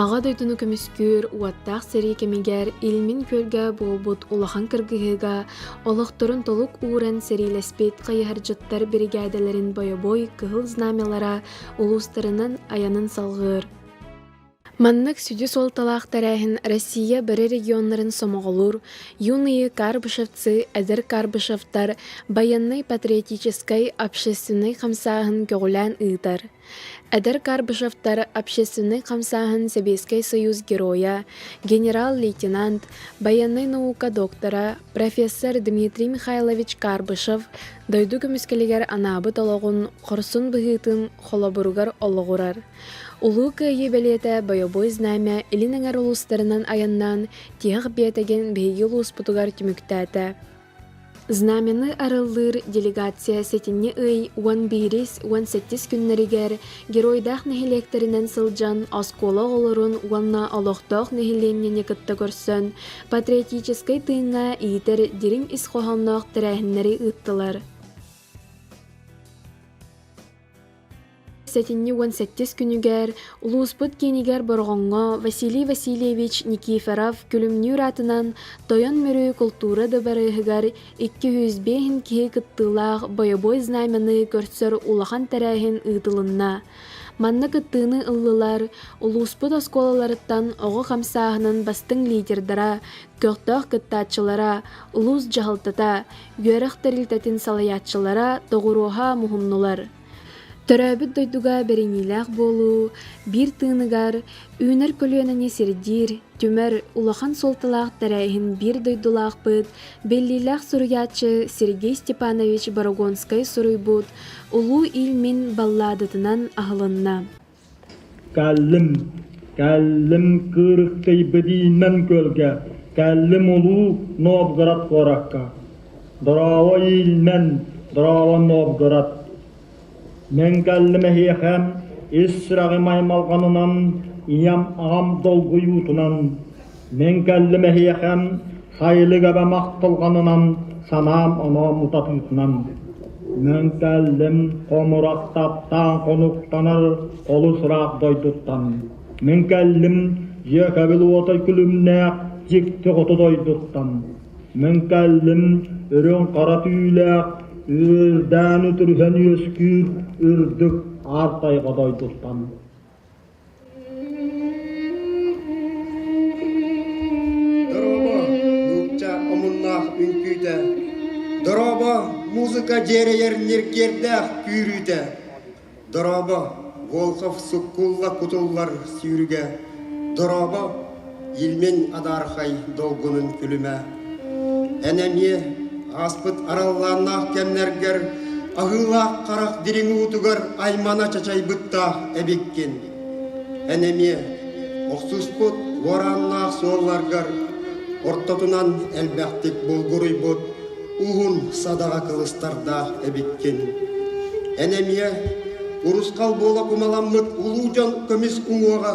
Аҕа дойдуну көмүскүүр уоттаах сэрии кэмигэр Илмин күөлгэ буолбут улахан кыргыһыыга олохторун толук ууран сэриилэспит хайыһардьыттар биригээдэлэрин бойобуой кыһыл знамялара улуустарынан айанын салҕыыр. Маннык сүдү суолталаах тэрээһин Россия бары регионнарын сомоҕолуур юные карбышевцы эдэр карбышевтар байыаннай-патриотическай общественнай хамсааһын көҕүлээн ыытар. Эдэр Карбышевтар общественнай хамсааһын Сэбиэскэй Сойуус Геройа, генерал-лейтенант, байыаннай наука доктора, профессор Дмитрий Михайлович Карбышев дойду көмүскэлигэр анаабыт олоҕун, хорсун быһыытын холобуругар олоҕурар. Улуу Кыайыы бэлиэтэ бойобуой знамя илин эҥэр улуустарынан айаннаан, тиһэх биэтэгин биһиги улууспутугар түмүктээтэ. Знамяны арыллыыр делегация сэтинньи ый уон биирис уон сэттис күннэригэр геройдаах нэһилиэктэринэн сылдьан оскуола оҕолорун уонна олохтоох нэһилиэнньэни кытта көрсөн патриотическай тыыҥҥа иитэр дириҥ ис хоһоонноох тэрээһиннэри ыыттылар. Сэтинньи уон сэттис күнүгэр улууспут киинигэр Бороҕоҥҥо Василий Васильевич Никифоров күлүмнүүр аатынан Тойон Мүрү култуура дыбарыаһыгар икки жүз биэһин киһи кыттыылаах бойобуой знамяны көрсөр улахан тэрээһин ыытылынна. Манна кыттыыны ыллылар улууспут оскуолаларыттан оҕо хамсааһынын бастыҥ лидердара, көхтөөх кыттааччылара, улуус дьаһалтата, үөрэх тэрилтэтин салайааччылара доҕуруоһа муһуннулар. Төрөөбүт дойдуга бэриниилээх буолуу биир тыыныгар үүнэр көлүөнэни сирдиир түмэр улахан суолталаах тэрээһин биир дойдулаахпыт, биллиилээх суруйааччы Сергей Степанович Барагонскай суруйбут Улуу Ил Мин балладатынан аһылынна. Кэллим, кэллим Кыырыктай Бэдиинэн күөлгэ, кэллим Улуу Новгород куоракка, Дорообо иилнэн, Дорообо Новгород. Мин кэллим эһиэхэ ис сүрэҕим аймалҕанынан, ийэм аҕам долгуйуутунан. Мин кэллим эһиэхэ сайылыгаба махталҕанынан санаам онон утатыытынан мөҥкэллим хомурук таптаан хонуктанар олус ыраах дойдуттан мин кэллим дьиэкэбил уотай күлүмнээх дьикти хоту дойдуттан мин кэллим үрүҥ хара түүлээх үөлдээн үтүрүһэн үөскүүр үрдүк аар тайҕа дойдуттан музыка дьиэрэйэр ньиргиэрдээх күүрүүтэ дорообо волхов суккулла кутуллар сүүрүгэ дорообо Илмин адаархай долгунун күлүмэ. Эн эмиэ ааспыт араллааннаах кэмнэргэр аһыылаах харах дириҥ уутугар аймана чачайбыттаах эбиккин. Эн эмиэ охсуспут уорааннаах суолларгар ортотунан элбэхтик булгуруйбут уһун садаҕа кылыстардаах эбиккин. Эн эмиэ урусхал буола кумаламмыт улуу дьон көмүс уҥуоҕа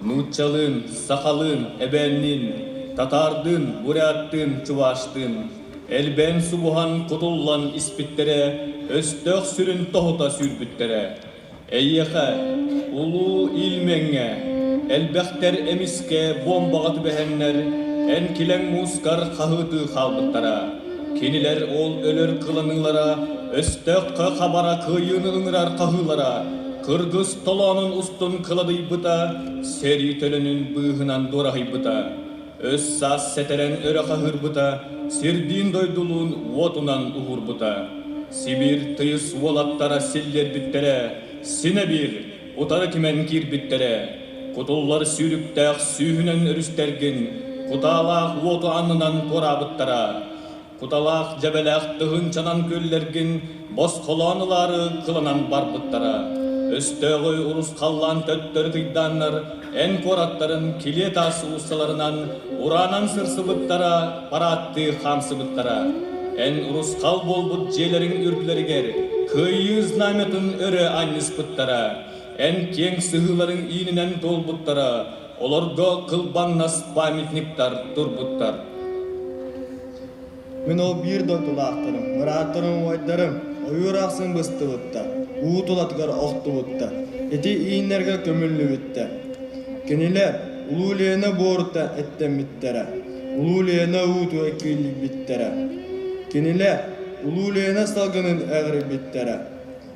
нууччалыын, сахалыын, эбээнниин, татаардыын, буряттыын, чуваштыын, элбээн субуһан кутуллан испиттэрэ, өстөөх сүрүн тоһута сүүрбүттэрэ. Эйиэхэ, улуу Ильмеҥҥэ, элбэхтэр эмискэ бомбаҕа түбэһэннэр, эн килэҥ муускар хаһыытыы хаалбыттара. Кинилэр ол өлөр кыланыылара, өстөөххө хабара кыайыыны ыҥырар хаһыылара, кыргыс толоонун устун кылабыйбыта, сэрии төлөнүн быыһынан дуораһыйбыта, өс-саас сэтэрэн өрө хаһыырбыта, сирдиин-дойдулуун уотунан уһуурбута. Сибиир тыйыс уолаттара силлиэрбиттэрэ, синэ биир утары түмэн киирбиттэрэ. Кутуллар сүүрүктээх сүүһүнэн өрүстэргин кутаалаах уоту аннынан туораабыттара. Куталаах дьэбэлээх тыһыынчанан күөллэргин босхолоон ылаары кыланан барбыттара. Өстөөҕү урус халлаан төттөрү тыйдааннар эн куораттарын килиэ таас ууссаларынан ураанан сырсыбыттара, парааттыы хаамсыбыттара. Эн урусхал буолбут дьиэлэриҥ үрдүлэригэр Кыайыы знамятын өрө анньыспыттара. Эн киэҥ сыһыыларыҥ иининэн туолбуттара. Олорго кылбаҥнас памятниктар турбуттар. Мин ол биир дойдулаахтарым, мырааттарым, убайдарым ойуур ахсын быстыбыттар, уу тулатыгар охтубуттар, ити ииннэргэ көмүллүбүттэр. Кинилэр Улуу Ленэ буорута эттэммиттэрэ, Улуу Ленэ ууту эккииллийбиттэрэ. Кинилэр Улуу Ленэ салгынын эҕирбиттэрэ,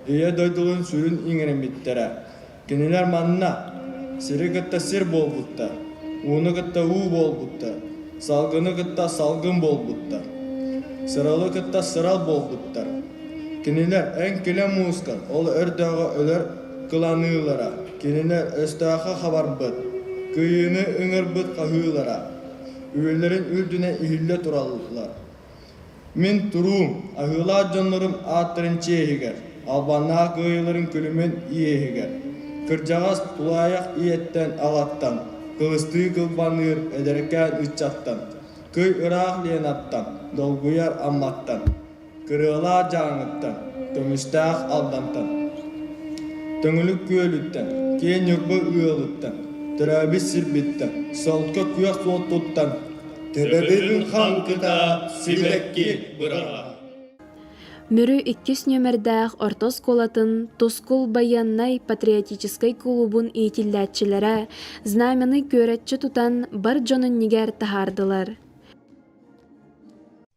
Ийэ дойдулун сүрүн иҥэриммиттэрэ. Кинилэр манна сири кытта сир буолбуттар, ууну кытта уу буолбуттар, салгыны кытта салгын буолбуттар, сыралы кытта сырал буолбуттар. Кинилэр эн килэ муускан ол өрдөөҕө өлөр кыланыылара, кинилэр өстөөххө хабарбыт, кыйыыны ыҥырбыт хаһыылара, үөллэрин үрдүнэ иһиллэ тураллар. Мин туруу, аһыылаах дьоннорум ааттарын чиэһигэр, албаннаах кыайыыларын күлүмүн иэһигэр, кырдьаҕас тулаайах ийэттэн аҕаттан, кылыстыы кылбаныыр эдэркээн ыччаттан, кый ыраах Ленаттан, долгуйар Амматтан, кырыалаах Дьааҥыттан, көмүстээх Алдантан, Төҥүлүк Күөлүттэн, киэҥ Ньурба ыалыттан, төрөөбүт сирбиттэн, солко күөх суол туттан, Төбөбүн хаҥкыта сибэкки быраҕа Мүрү иккис нүөмэрдээх орто оскуолатын Тускул байыаннай патриотическай кулубун иитиллээччилэрэ Знамяны күөрэччи тутан бар дьон иннигэр таһаардылар.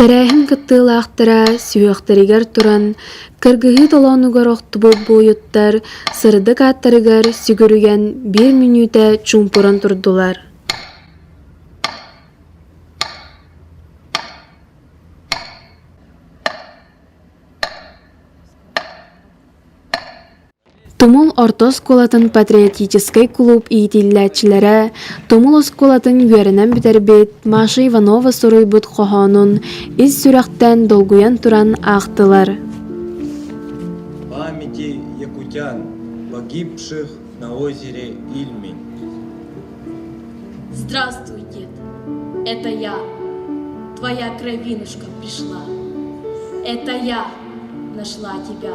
Тэрээһин кыттыылаахтара сүһүөхтэригэр туран, кыргыһыы толоонугар охтубут буойуттар сырдык ааттарыгар сүгүрүйэн биир мүнүүтэ чуумпуран турдулар. Тумул орто оскуолатын патриотическай кулууп иитиллээччилэрэ Тумул оскуолатын үөрэнэн бүтэрбит Маша Иванова суруйбут хоһоонун ис сүрэхтэн долгуйан туран аахтылар. Памяти якутян, погибших на озере Ильми. Здравствуй, дед. Это я. Твоя кровинушка пришла. Это я нашла тебя.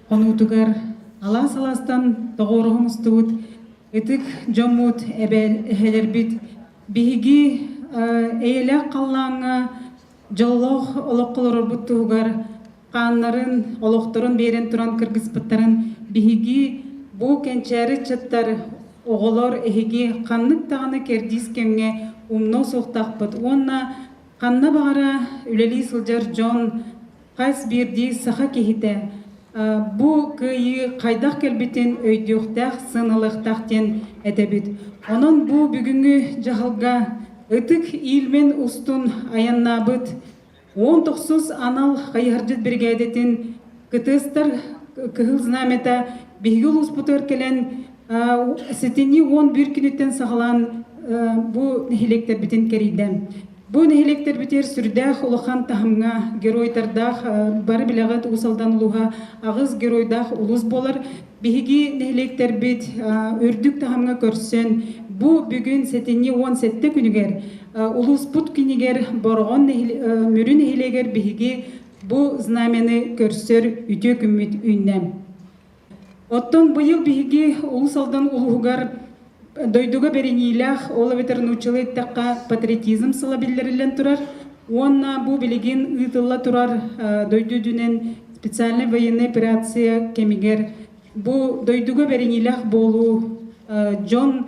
Хонуутугар алаас-алаастан тоҕуоруһа мустубут ытык дьоммут, эбээл эһэлэрбит биһиги эйэлээх халлааҥҥа дьоллоох олох олорорбут туһугар хааннарын, олохторун биэрэн туран кыргыспыттарын биһиги бу кэнчээри ыччаттар, оҕолор эһиги ханнык даҕаны кэрдиис кэмҥэ умнуо суохтахпыт уонна ханна баҕара үлэлии сылдьар дьон хас биирдии саха киһитэ бу кыайыы хайдах кэлбитин өйдүөхтээх, сыаналыахтаах диэн этэбит. Онон бу бүгүҥҥү дьаһалга ытык иилмин устун айаннаабыт он тохсус анал хайыһардьыт биригээдэтин кытыыстар Кыһыл Знамята биһиги улууспутугар кэлэн ситини уон биир күнүттэн саҕалаан бу нэһилиэктэрбитин кэрийдэ. Бу нэһилиэктэрбитигэр сүрдээх улахан таһымҥа геройдардаах бары билэҕит Уус-Алдан улууһа аҕыс геройдаах улус буолар. Биһиги нэһилиэктэрбит үрдүк таһымҥа көрсөн бу бүгүн сэтинньи уон сэттэ күнүгэр улууспут кинигэр Бороҕон Мүрү нэһилиэгэр биһиги бу знамяны көрсөр үтүө күммүт үүннэ. Оттон быйыл биһиги Улус Алдан улуһугар дойдуга бэриниилээх, ол эбэтэр нууччалыы эттэххэ патриотизм сыла биллэриллэн турар уонна бу билигин ыытылла турар дойду үрдүнэн специальнай военнай операция кэмигэр бу дойдуга бэриниилээх буолуу дьон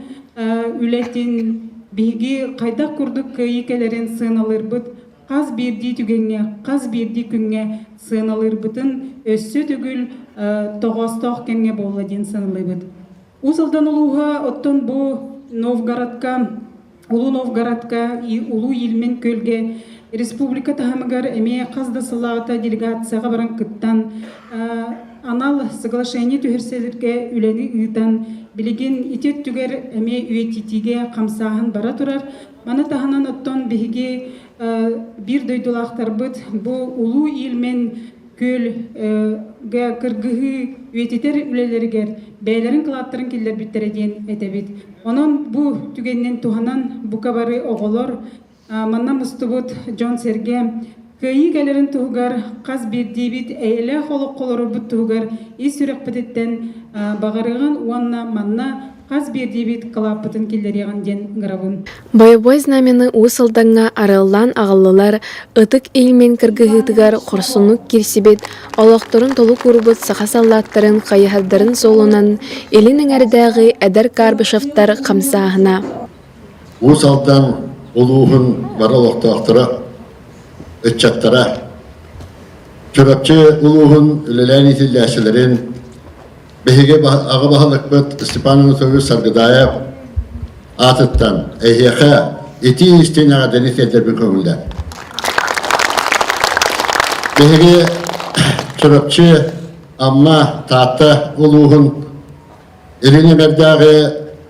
үлэтин биһиги хайдах курдук кыайыы кэлэрин сыаналыырбыт хас биирдии түгэҥҥэ, хас биирдии күҥҥэ сыаналыырбытын өссө төгүл тоҕоостоох кэмҥэ буолла диэн саналлыбыт. Уус Алдан улууһа оттон бу Новгородка, Улуу Новгородка, Улуу Илмин күөлгэ республика таһымыгар эмиэ хас да сыл аата делегацияҕа баран кыттан, анал соглашение түһэрсэлэргэ үлэни ыытан, билигин ити өттүгэр эмиэ үйэтитиигэ хамсааһын бара турар, Маны таһынан оттон биһиги биир дойдулаахтарбыт бу Улуу Илмин күөлгэ кыргыһыы үйэтитэр үлэлэригэр бэйэлэрин кылааттарын киллэрбиттэрэ диэн этэбит. Онон бу түгэнинэн туһанан бука бары оҕолор манна мустубут дьон-сэргэ Кэйии кэлэрин туһугар хас биирдиибит эйэлээх олоххо олорорбут туһугар ис сүрэхпититтэн баҕарыаҕын уонна манна хас биирдиибит кылааппытын киллэриэҕин диэн ыҥырабын. Боевой знамяны Уус Алдаҥҥа арыллаан аҕаллылар, ытык илмин кыргыһыытыгар хорсуннук киирсибит, олохторун толук уурбут саха саллааттарын хайыһардарын суолунан илин эҥэрдээҕи эдэр Карбышевтар хамсааһына. Уус Алдан улууһун бары олохтоохторо, ыччаттара, Чурапчы улууһун үлэлээн иитиллээччилэрин, биһиги аҕа баһылыкпыт Степан Анатольевич Саргыдаев аатыттан эһиэхэ итии-истиин эҕэрдэни тиэрдэрбин көҥүллэр. Биһиги Чурапчы, Амма, Таатта улууһун Илин эдэрдээҕи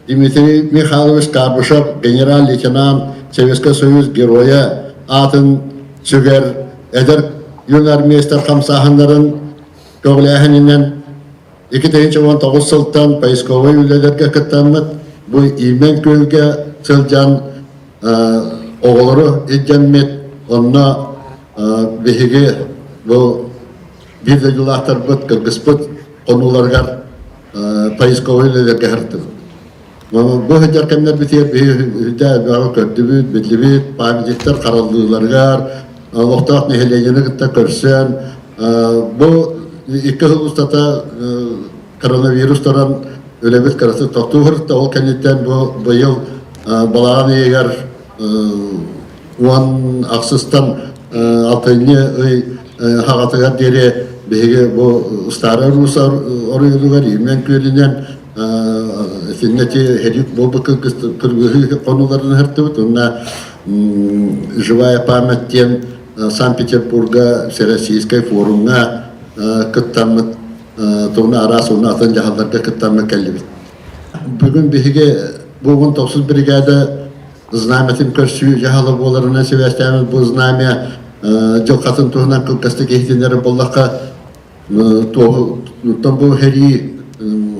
Дмитрий Михайлович Кабышев генерал-лейтенант Советскай Союз Геройа аатын сүгэр эдэр юнармейстар хамсааһыннарын көҕүлээһининэн икки тыһыынча уон тоҕус сылтан поисковай үлэлэргэ кыттаммыт бу Имэн Күөлгэ сылдьан оҕолору илдьэммит онно биһиги бу Биир дойдулаахтарбыт, кыргыспыт хонууларыгар поисковой үлэлэргэ сырыттыбыт. Бу сылдьар кэмнэрбитигэр бэйэҕэ көрдүбүт, биллибит памятниктар хараллыыларыгар, олохтоох нэһилиэгини кытта көрсөн, бу икки сыл устата коронавирустаран үлэбит кыратык тохтуу сырытта. Ол кэнниттэн бу быйыл балаҕан ыйыгар уон ахсыстан алтынньы ый хаҕатыгар диэри биһиги бу Старый Рус оройуонугар Ирмен күөлүнэн итиннэти херик буолбут кыргыһыы хонууларын ыһыртыбыт уонна «Живая память» диэн Санкт-Петербурга Всероссийскай форумҥа кыттаммыт тугуна араас уонна атын дьаһалларга кыттаммыт кэллибит Бүгүн биһиги бугун тохсус биригээдэ знамятын көрсүү дьаһала буоларынан сибээстээммит бу знамя дьылхатын туһунан кылгастык иһитиннэрэр боллохха туоһуттан бу херии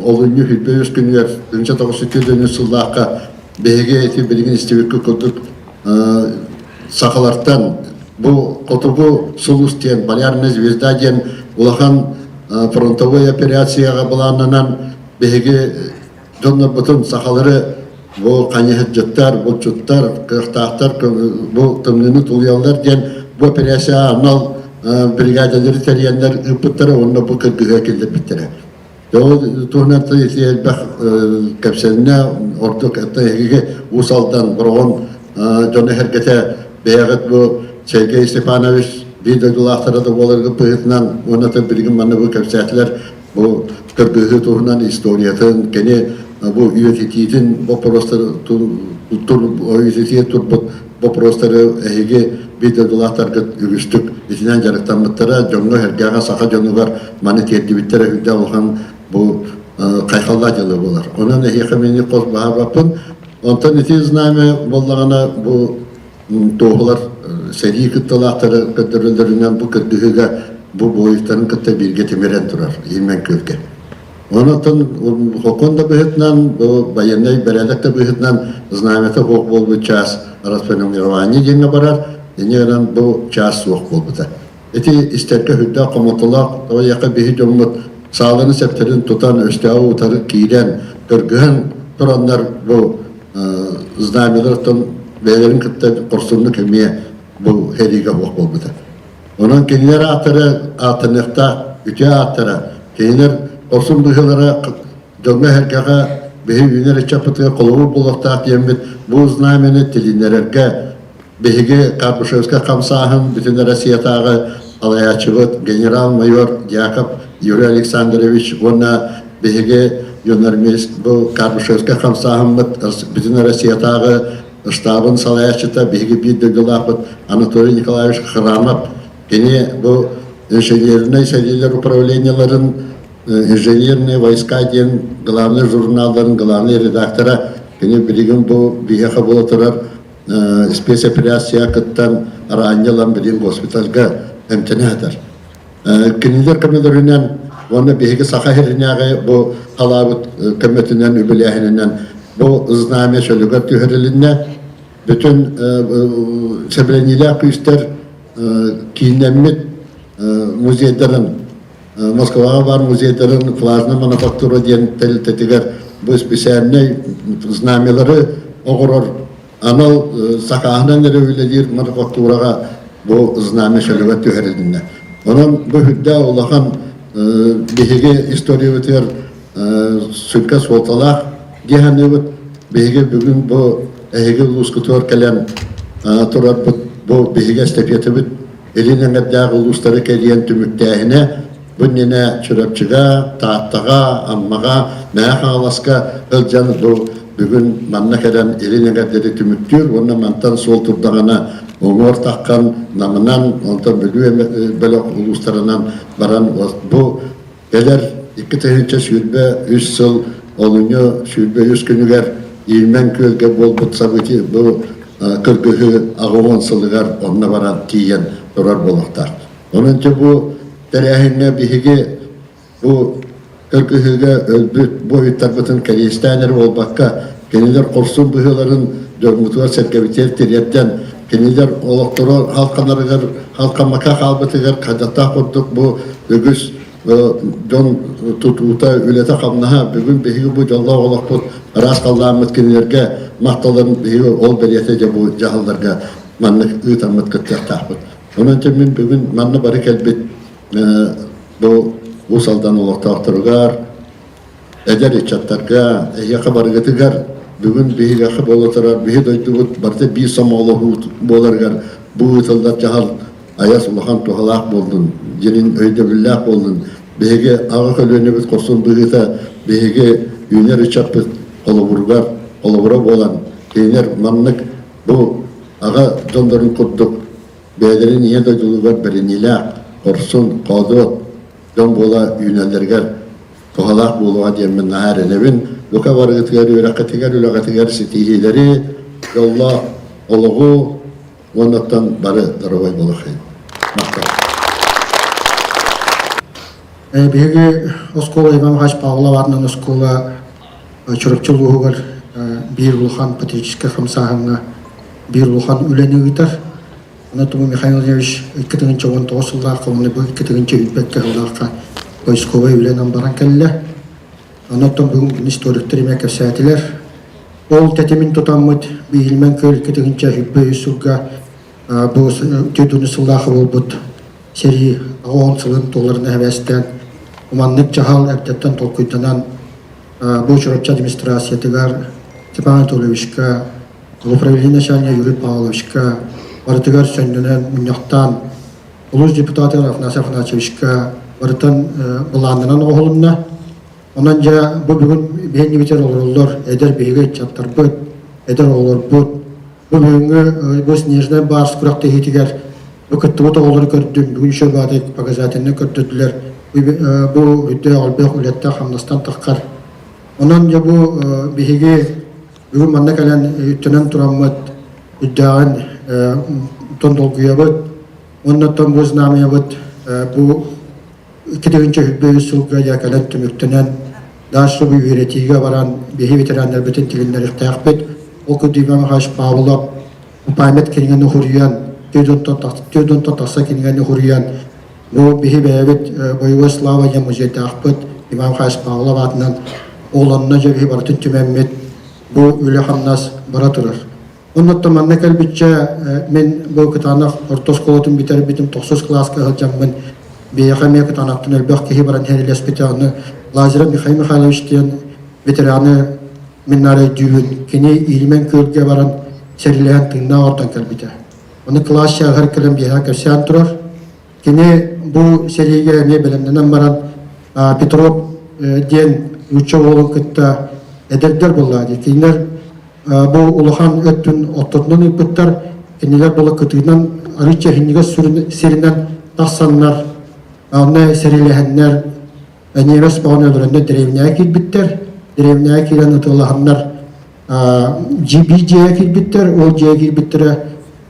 олунньу хүйтбэ үс күнүгэр күнчэ тоҕус үтүө дөнүс сыллаахха биһиги ити билигин истибиккэ курдук сахалартан бу хотугу сулус диэн полярная звезда диэн улахан фронтовой операцияҕа былааннанан Биһиги дьоннорбутун сахалары бу хайыһырдьыттар, булчуттар, кыахтаахтар бу тымныыны тулуйаллар диэн бу операция анал бригадалары тэрийэннэр ыыппыттара уонна бу кыргыһыы киллэрбиттэрэ. Ол туһунан элбэх кэпсэннэ, ордук эһиги Уус Алдан, Бороҕон дьон эһэргэтэ бэйэҕит бу Сергей Степанович биир дойдулаахтара да буоларгыт быһыытынан уонна билигин манна бу кэпсээтилэр Бу кыргыһыы туһунан историятын, кини бу үйэтитиитин боппуруостарын үйэтитии турбут боппуруостары эһиги библиотекалаахтаргыт үгүстүк итинэн дьарыктаммыттара дьоҥҥо-сэргэҕэ саха дьонугар маны тиэрдибиттэрэ үрдэ улахан бу хайхаллаах дьылы буолар. Онон эһиэхэ мини хос баһарбаппын. Онтон ити знамя буоллаҕына бу туоһулар сэрии кытталаахтары көрдөрөллөрүнэн бу көрдөһүүгэ бу буойуттарын кытта бииргэ тимирэн турар Ирмен Күөлгэ. Онтон хокон да быһытынан, бу байыаннай бэрээдэк да быһытынан знамята хох буолбут чаас расформирование диэҥҥэ барар, ини бу чаас суох буолбута. Ити истэргэ үрдээх хомотолоох, тоҕойиэхэ биһи дьоммут сааланы сэптэрин тутан, өстөөҕү утары киирэн, дыргыһан тураннар бу знамялартан бэйэлэрин кытта хорсуннук эмиэ бу сэриигэ суох буолбута. Онон кинилэр ааттара ааттаныахтаах үтүө ааттара, кинилэр хорсун быһыылара дьоҥҥо эһэргэҕэ биһи үүнэр ыччаппытыгар холобур буолуохтаах диэммит бу знамяны тилиннэрэргэ Биһиги Капушевскай хамсааһын бүтүн Россиятааҕы алайааччыбыт генерал-майор Дьяков Юрий Александрович уонна биһиги юнормист бу Капушевскай хамсааһыммыт бүтүн Россиятааҕы штабын салайааччыта биһиги биир дойдулаахпыт Анатолий Николаевич Храмов кини бу инженернэй сэриилэр управлениеларын инженерные войска диэн главный журналларын главный редактора кини билигин бу биһиэхэ буола турар спецоперация кыттан араанньы ылан билим госпитальга эмтэнэ сытар. Кинилэр көмөлөрүнэн уонна биһиги Саха сиринээҕи бу халаабыт көмөтүнэн үбүлээһининэн бу знамя чөлүгэр түһэрилиннэ. Бүтүн сэбирэниилээх күүстэр кииннэммит музейдарын Москваҕа баар музейдарын Классная мануфактура диэн тэрилтэтигэр бу специальнай знамялары оҕорор анал сакааһынан эрэ үлэлиир мануфактураҕа бу знамя шалева түһэрилиннэ. Онон бу үрдээх улахан биһиги историябытыгар сүргэ суолталаах дии саныыбыт. Биһиги бүгүн бу эһиги улуускутугар кэлэн турарбыт бу биһиги эстафетабыт илин эмэрдээх улуустары кэрийэн түмүктээһинэ бу иннинэ Чурапчыга, Тааттаҕа, Аммаҕа, Мэхэ Хаҥаласка ыалдьан бу бүгүн манна кэлэн илин эҥэрдэри түмүктүүр уонна мантан суол турдаҕына уҥуор таххан намынан онтон бүлүү бөлөх улуустарынан баран бу Кэлэр икки тыһыынча сүүрбэ үс сыл олунньу сүүрбэ үс күнүгэр Иирмэҥ күөлгэ буолбут событие бу кыргыһыы аҕылон сылыгар онно баран тиийэн турар буолуохтаах. Онончу бу тэрээһиҥҥэ биһиги бу кыргыһыыга өлбүт буойуттарбытын кэриэстээнэр буолбакка, кинилэр хорсун быһыыларын дьоҥҥутугар сэргэбитигэр тириэрдэн Кинилэр олохторо халканарыгар, халкамака хаалбытыгар хадаттаах курдук бу үгүс дьон тутуута, үлэтэ-хамнаһа бүгүн биһиги бу дьоллоох олохпут араас халлааммыт кинилэргэ махталларын биһиги ол бэлиэтэ дьэ бу дьаһалларга маннык ыытаммыт кыттыахтаахпыт. Онон дьэ мин бүгүн манна бары кэлбит бу Уус Алдан олохтоохторугар, Эдэр ыччаттарга, эһиэхэ барыгытыгар, бүгүн биһиэхэ буола турар биһи дойдубут барыта биир сомоҕолоһуу буоларыгар бу ыытыллар дьаһал айас улахан туһалаах буоллун, дьиҥин өйдөбүллээх буоллун, биһиги аҕа көлүөнэбит хорсун быһыыта биһиги үүнэр ыччаппыт холобуругар, холобура буолан кинилэр маннык бу аҕа дьоннорун курдук бэйэлэрин ийэ дойдуларыгар бэриниилээх, хорсун, хоодуот дьон буола үүнэллэригэр туһалаах буолуоҕа диэммин наһаа эрэнэбин. Бука барыытыгар, үөрэххитигэр, үлэҕитигэр ситиһиилэри, дьоллоох олоҕу уоннаттан бары дарабай буолахын. Биһиги оскуола Иван Иванович Павловарынан оскуола Чурапчы улууһугар биир улахан патриотическай хамсааһыҥҥа биир улахан үлэни ыытар. Анатолий Михайлович икки тыһыынча уон тоҕус сыллаах хомунайбы икки тыһыынча үүммэт кыһыллаахха поисковай үлэнэн баран кэллэ. Онуттан бүгүн историктер имэ кэпсээтилэр. Ол тэтимин тутаммыт биилмэн көл икки тыһыынча үппэ үс сылга бу түйдүнү сыллаах буолбут сэрии аҕаон сылын толорун эбээстэн уманнык дьаһал эрдэттэн толкуйданан бу чурапчы администрациятыгар Степан Анатольевичка, управление начальнига Юрий Павловичка барытыгар сөннөнөн мунньахтаан улус депутатыгар Афанасий Афанасьевичка барытын былаанынан оҕолунна. Онон дьэ бу бүгүн биһиннибитер олороллор эдэр биһиги ыччаттарбыт, эдэр оҕолорбут Бүгүҥҥү Госнежнай баар күрэхтэһиитигэр кыттыбыт оҕолору көрдүм. Бүгүн еще бадай показательно көрдөрдүлэр. Бу бүддө олбөх үлетте хамнастан тахкар. Онон я бу биһиги бүгүн манна кэлэн үттэнэн тураммыт үддәгин тон долгуябыт, оннаттан бу знамябыт бу икки тыһыынча үһүрбэ үс сылга Яколет түмүктэнэн Дарсубу үөрэтиигэ баран биһи ветераннарбытын тигиннэриэхтээхпит. Ол күдүүмэ Михаил Павлов память кинигэн ухуруйан, түөдүнтө тахса кинигэн ухуруйан, бу биһи бэйэбит боевой славания музейдаахпыт Иван Михаил Павлов аатынан олонно же биһи барытын түмэммит бу үлэ хамнас бара турар. Оннуттан манна кэлбиччэ мен бу кытаанах орто оскуолатын бүтэрбитим, тохсус класска сылдьаммын, бэйэхэ эмиэ кытаанаттан элбэх киһи баран хэрилэспитэ аны Лазарев Михаил Михайлович диэн ветераны мин найдүүбүн кини иилимэн күөлгэ баран сэриилэһэн тыыннаах ортон кэлбитэ. Оны класс чааһар кэлэн биэһэ кэрсээн турар, Кини бу сэриигэ эмиэ бэлэмнэнэн баран Петров диэн нуучча уолун кытта эдэрдэр буолла дии. Кинилэр бу улахан өттүн ортотунан ыыппыттар, кинилэр була кытыынан арыычча иһиннигэ сиринэн тахсаннар, онно сэриилэһэннэр, немец бөҕөнү өлөрөннөр дэриэбинэҕэ киирбиттэр. Дэриэбинэҕэ киирэн ытылаһаннар GB дьиэҕэ кирбиттэр, ол дьиэҕэ кирбиттэрэ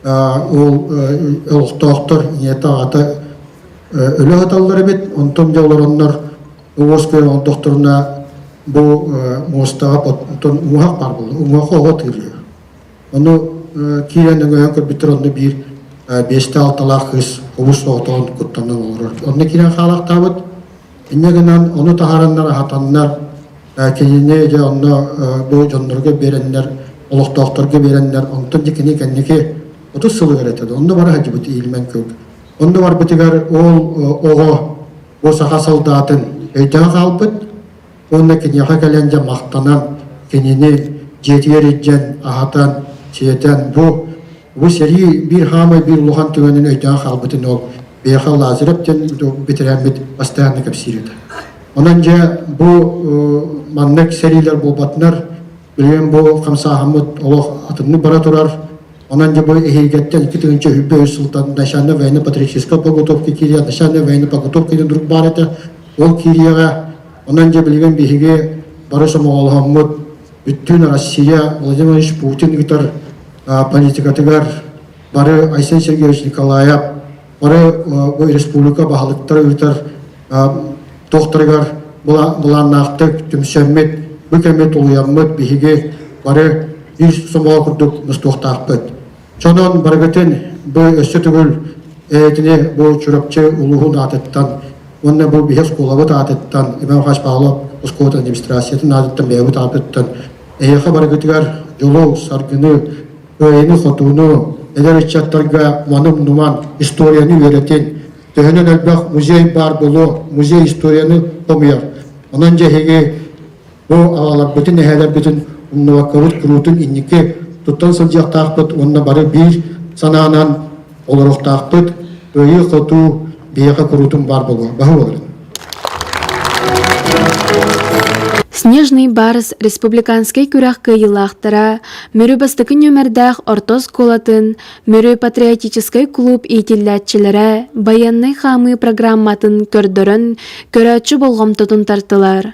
ол олохтоохтор ийэтэ аҕата өлө саталлар эбит, онтон дьэ олороннор оҕуос көрөн олдохторуна бу муостаҕа отон уҥуһах баар буолла, уҥуһах оҕо тыырыыр. Ону киирэн өҥөйөн көрбүттэр онно биир биэсте-алталаах кыыс хобус соҕотоҕун куттанан олорор. Онно киирэн хаалахтаабыт, Инньэ гынан ону таһаарыннар аһатаннар кинини дьэ онно бу дьоннорго биэрэннэр олохтоохторго биэрэннэр онтон дьэ кини кэнники отут сылыгар этэ онно бара сылдьыбыт иилмэн кылк онно барбытыгар ол оҕо бу саха солдатын өйдөөн хаалбыт уонна киниэхэ кэлэн дьэ махтанан кинини дьиэтигэр илдьэн аһатан сиэтэн бу Бу сэрии биир хаамай биир улахан түгэнин өйдөөн хаалбытын ол Беха Лазарев диэн бэтэрээммит бастайаанны кэпсиир этэ. Онон дьэ бу маннык сэриилэр буолбатынар билигин бу хамсааһаммыт олох атыннык бара турар. Онон дьэ бу эһиигиттэн икки тыһынча үһүббэ үс сылтан начальная военно-патриотическая подготовка кирия, начальная военно-подготовка деген друг бар этэ. Ол кирияға онон дьэ билигин биһиги бары сомоҕолоһоммут бүттүүн Россия Владимир Путин ыытар политикатыгар бары Айсен Сергеевич Николаев, бары бу республика баһылыктара ыытар тохтарыгар былааннаахтык түмсэммит, бу кэммит тулуйаммыт биһиги бары ис сомоҕо курдук мустуохтаахпыт. Чонон барыгытын бу өссө түгүл этини бу Чурапчы улууһун аатыттан уонна бу биһи оскуолабыт аатыттан Иван Михайлович Павлов оскуола администрациятын аатыттан бэйэбит аатыттан Эһиэхэ барыгытыгар дьолу, саргыны, кыайыыны-хотууну, эдэр ыччаттарга маны умнуман историяны үөрэтин, төһөнөн элбэх музей баар буолуо, музей историяны хомуйар. Онон дьэ эһиги бу аҕаларбытын, эһээлэрбитин умнубакка урут куруутун инники туттан сылдьыахтаахпыт уонна бары биир санаанан олоруохтаахпыт. Кыайыы-хотуу биһиэхэ куруутун баар буолуо. Баһы боларын. Снежный Барс республиканскай күрэх кыайыылаахтара Мүрү бастакы нүөмэрдээх орто оскуолатын Мүрү патриотическай кулууп иитиллээччилэрэ байыаннай хаамыы программатын көрдөрөн көрөөччү болҕомтотун тартылар.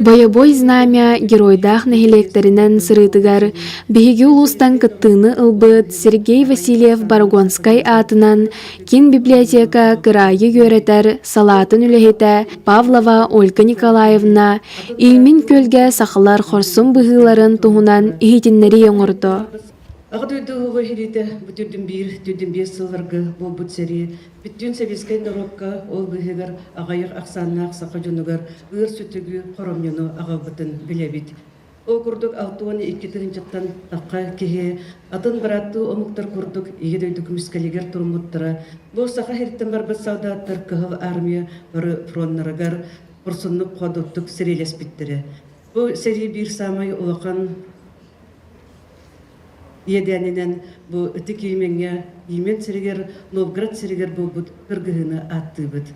Бойобуой знамя геройдаах нэһилиэктэринэн сырыытыгар биһиги улуустан кыттыыны ылбыт Сергей Васильев Барагонскай аатынан Кин библиотека кыраайы үөрэтэр салаатын үлэһитэ Павлова Ольга Николаевна Илмин көлгө сахалар хорсун быһыыларын туһунан иһитиннэрии оҥордо. Аҕа дойдуга иһилиитэ бу түрдүн биир түрдүн биир сылларгы буолбут сэрии бүттүүн сэбиэскэй норуокка ол быһыгар аҕайыр ахсааннаах саха дьонугар ыыр сүтүгү хоромньуну аҕалбытын билэбит. Ол курдук алта уон икки тыһыынчаттан тахха киһи атын бырааттыы омуктар курдук Ийэ дойду көмүскэлигэр туруммуттара, бу Саха сириттэн барбыт солдаттар Кыһыл Армия бары фроннарыгар хорсуннук ходурдук сэриилэспиттэрэ. Бу сэрии биир саамай улахан иэдээнинэн бу ытык Иемеҥҥэ Иемен сиригэр Новгород сиригэр буолбут кыргыһыыны ааттыыбыт.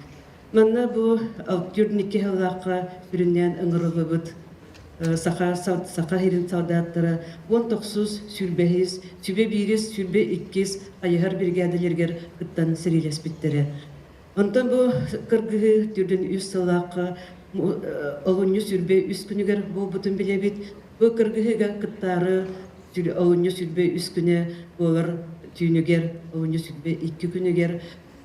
Манна бу алты түөрт икки сыллаахха бүрүннээн ыҥырыллыбыт саха, саха сирин солдаттара уон тохсус, сүүрбэһис, сүбэ биирис, сүрбэ иккис хайыһар биригээдэлэригэр кыттан сэриилэспиттэрэ. Онтон бу кыргыһыы түрдүн үс сыллаахха олунньу сүрбэ үс күнүгэр буолбутун билэбит. Бу кыргыһыыга кыттаары олунньу сүрбэ үс күнэ буолар түүнүгэр, олунньу сүрбэ икки күнүгэр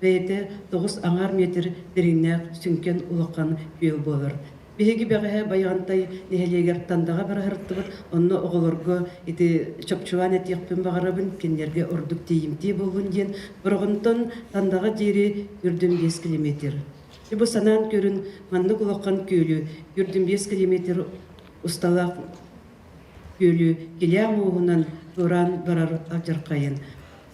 бэйэтэ тоҕус аҥаар метр дириҥнээх сүҥкэн улахан күөл буолар. Биһиги бэҕэһээ Байаҕантай нэһилиэгэр Тандаҕа барыһарыттыбыт, онно оҕолорго ити чопчулаан этиэхпин баҕарабын, кинилэргэ ордук тиийимтиэ буоллун диэн, Бороҕонтон Тандаҕа диэри үрдүн биэс километр. Ити бу санаан көрүн, маннык улахан күөлү үрдүн биэс километр усталаах күөлү килээх мууһунан ыран барар алдьархайын,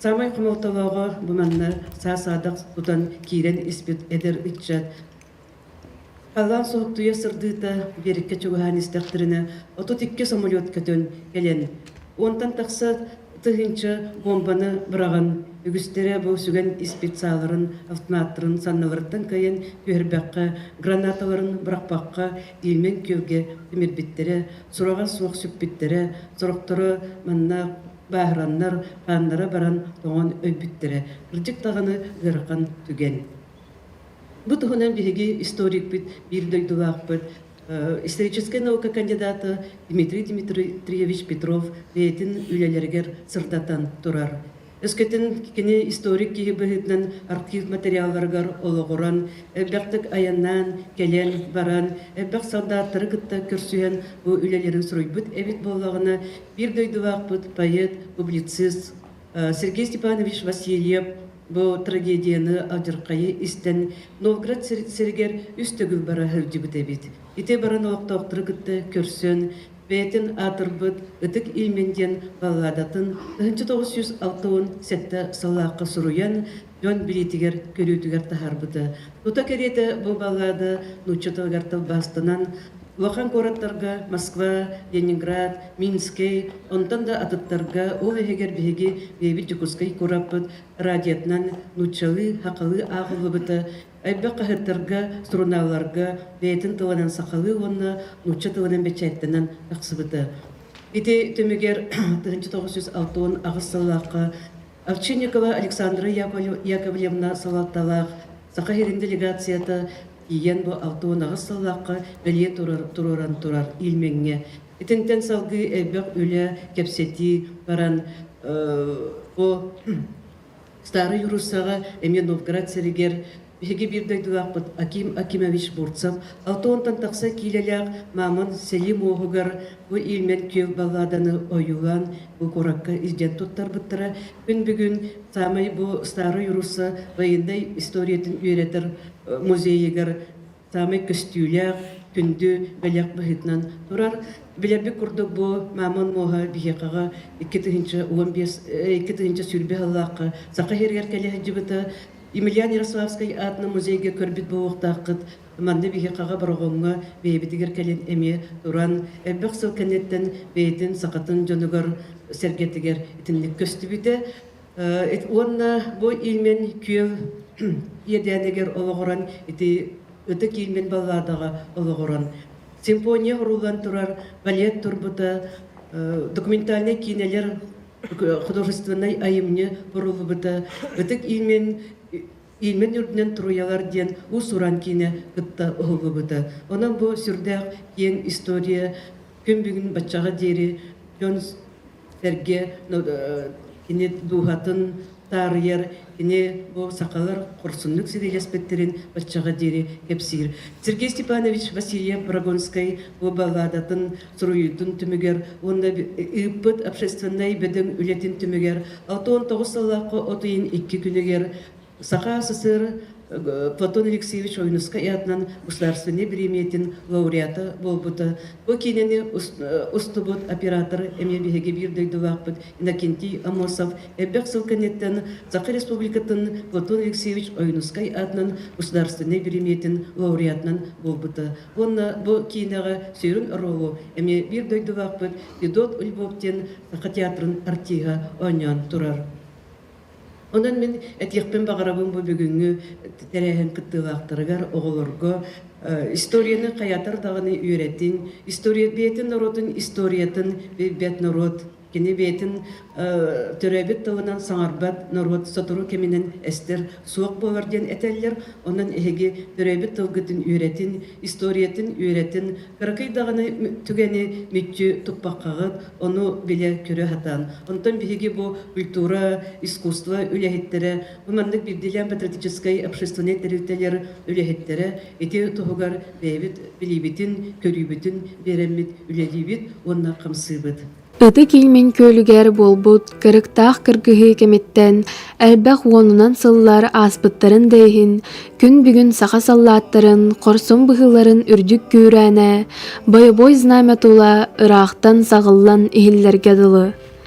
саамай хомолтолооҕо бу манна саа-саадах тутан киирэн испит эдэр ыччат халаан соһуттуйа сырдыыта биэриккэ чугаһаан истэхтэринэ отут икки самолет көтөн кэлэн уонтан тахса тыһыынча буомбаны быраҕан үгүстэрэ бу сүгэн испит сааларын автоматтарын санныларыттан кыайан түһэрбэххэ гранаталарын бырахпакка иимэн күөлгэ имирбиттэрэ, сураҕа суох сүппүттэрэ, сорохторо манна бааһыраннар, хааннара баран тоҥон өлбүттэрэ. Кырдьык даҕаны ыарахан түгэн. Бу туһунан биһиги историкпыт, биир дойдулаахпыт, историческай наука кандидата Дмитрий Дмитриевич Петров бэйэтин үлэлэригэр сырдатан турар. Өскөтүн кини историк киһи быһыытынан архив материалларыгар олоҕуран, элбэхтик айаннаан, кэлэн баран, элбэх солдааттары кытта көрсүһэн бу үлэлэрин суруйбут эбит буоллаҕына, биир дойдулаахпыт поэт, публицист Сергей Степанович Васильев бу трагедияны алдьархайы истэн Новгород сиригэр үс төгүл бара сылдьыбыт эбит. Ити баран олохтоохтору кытта көрсөн, бэйэтин аатырбыт Ытык Иимин диэн балладатын тыһыынча тоҕус сүүс алта уон сэттэ сыллаахха суруйан, дьон билиитигэр-көрүүтүгэр таһаарбыта. Тута кэриэтэ бу баллада нуучча тылыгар тылбаастанан, улахан куораттарга Москва, Ленинград, Минскэй, онтон да атыттарга, ол иһигэр биһиги бэйэбит Дьокуускай куораппыт радиотынан нууччалыы-хахалыы ааҕыллыбыта Элбэх хаһыаттарга, сурунаалларга бэйэтин тылынан сахалыы уонна нуучча тылынан бэчээттэнэн тахсыбыта. Ити түмүгэр тыһыынча тоҕус жүз алта уон аҕыс сыллаахха Овчинникова Александра Яковлевна салалталаах Саха сирин делегацията тиийэн бу алта уон аҕыс сыллаахха бэлиэ туруоран турар Ильмеҥҥэ итинтэн салгыы элбэх үлэ, кэпсэтии баран бу Старый Руссаҕа эмиэ Новгород сиригэр биһиги биир дойдулаахпыт Аким Акимович Бурцев алта уонтан тахса киилэлээх Мамон сэлии муоһугар бу иилмэн күөл балладаны ойуулаан бу куоракка илдьэн туттарбыттара күн бүгүн саамай бу Старый Русса военнай историятын үөрэтэр музейыгар саамай көстүүлээх, күндү бэлэх быһыытынан турар. Билэрбит курдук бу мамон муоһа биһиэхэҕэ икки тыһыынча уон биэс, икки тыһыынча сүүрбэ сыллаахха саха иһигэр кэлэ сылдьыбыта. Емельян Ярославскай аатынан музейга көрбүт буолуохтааххыт. Манна биһиэхэҕэ Бороҕоҥҥо бэйэбитигэр кэлин эмиэ туран, элбэх сыл кэнниттэн бэйэтин сахатын дьонугар, сэргэтигэр итинник көстүбүтэ. Уонна бу илмин күөл иэдээнигэр олоҕуран ити ытык илмин баллаадаҕа олоҕуран симфония уруулан турар балет турбута документальнай киинэлэр художественнай айымньы уруллубута ытык илмин Ильмень үрдүнэн Туруйалар диэн уус-уран киинэ кытта уһуллубута. Онон бу сүрдээх киэҥ история, күн бүгүн баччаҕа диэри дьон-сэргэ кини дууһатын таарыйар, кини бу сахалар хорсуннук ситиһиэспиттэрин баччаҕа диэри кэпсиир. Сергей Степанович Васильев Брагонскай бу балладатын суруйуутун түмүгэр уонна ыыппыт общественнай бөдөҥ үлэтин түмүгэр отон тоҕус сыллаахха от ыйын икки күнүгэр саха СССР Платон Алексеевич Ойнускай аатынан государственнай бириэмийэтин лауреата буолбута. Бу киинэни устубут оператор эмиэ биһиги биир дойдулаахпыт Иннокентий Амосов элбэх сыл кэнниттэн Саха Республикатын Платон Алексеевич Ойнускай аатынан государственнай бириэмийэтин лауреатынан буолбута. Уонна бу киинэҕэ сүрүн ролу эмиэ биир дойдулаахпыт Федот Львов диэн саха театрын артиһа оонньоон турар. Онон мин этиэхпин баҕарабын бу бүгүҥҥү тэрээһин кыттыылаахтарыгар оҕолорго историяны хайатар даҕаны үөрэтин, история бэйэтин норуотун историятын билбэт норуот Кини бэйэтин төрөөбүт тылынан саҥарбат норуот сотору кэминэн эстэр суох буолар диэн этэллэр. Онон эһиги төрөөбүт тылгытын үөрэтин, историятын үөрэтин, кыракый даҕаны түгэни мүччү туппаккаҕыт, ону билэ-көрө сатаан. Онтон биһиги бу культура, искусство үлэһиттэрэ, бу маннык бирдиилээн патриотическай общественнай тэрилтэлэр үлэһиттэрэ Ити туһугар бэйэбит билиибитин, көрүүбүтүн биэрэммит, үлэлиибит уонна хамсыыбыт. Ытык Ильмень күөлүгэр буолбут кырыктаах кыргыһыы кэмиттэн элбэх уонунан сыллар ааспыттарын да иһин, күн бүгүн саха саллааттарын хорсун быһыыларын үрдүк күүрээнэ, бойобуой знамя тула ыраахтан саҕыллан иһиллэргэ дылы.